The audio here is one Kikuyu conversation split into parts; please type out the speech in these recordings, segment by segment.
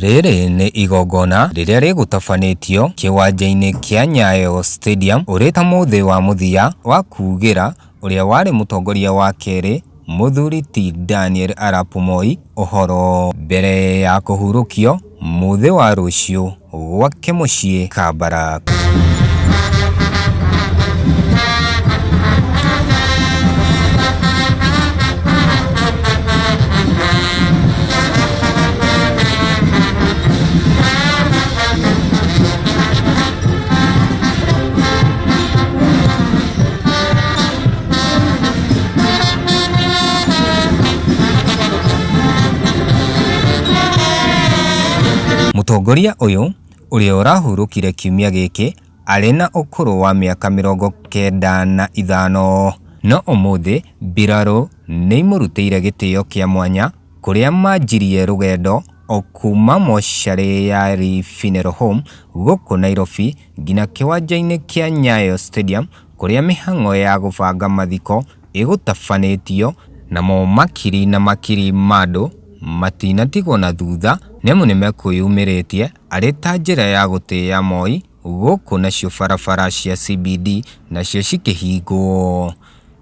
Rĩrĩ nĩ igongona rĩrĩa rĩgũtabanĩtio kĩwanja-inĩ kĩa Nyayo Stadium ũrĩ ta mũthĩ wa mũthia wa kuugĩra ũrĩa warĩ mũtongoria wa kerĩ, Mũthuri ti Daniel Arap Moi, ũhoro. Mbere ya kũhurũkio mũthĩ wa rũciũ gwake mũciĩ Kabarak. Mũtongoria ũyũ ũrĩa ũrahurũkire kiumia gĩkĩ arĩ na ũkũrũ wa mĩaka mĩrongo kenda na ithano. No ũmũthĩ mbirarũ nĩimũrutĩire gĩtĩo kĩa mwanya kũrĩa manjirie rũgendo o kuma mocarĩ ya Lee Funeral Home gũkũ Nairobi ngina kĩwanja-inĩ kĩa Nyayo Stadium kũrĩa mĩhang'o ya gũbanga mathiko ĩgũtabanĩtio, namo makiri na makiri ma andũ matinatigwo na thutha nĩamu nĩmekwĩyumĩrĩtie arĩ ta njĩra ya gũtĩa Moi gũkũ nacio barabara cia CBD nacio cikĩhingwo.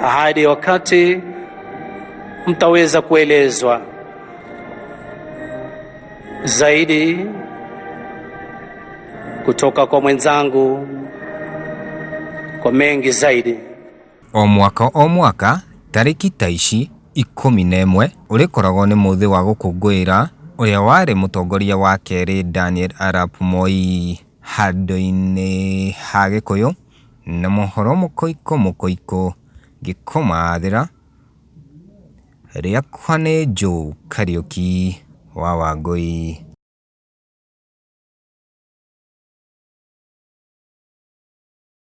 Hadi wakati mtaweza kuelezwa zaidi kutoka kwa mwenzangu kwa mengi zaidi. o mwaka o mwaka tarĩki ta ici ikũmi na ĩmwe ũrĩkoragwo nĩ mũthĩ wa gũkũngũĩra ũrĩa warĩ mũtongoria wa kerĩ Daniel Arap Moi handũ-inĩ ha Gĩkũyũ Na mohoro mũkoiko mũkoiko ngĩkomathĩra Rĩakwa nĩ Joe Kariuki wa Wangũi.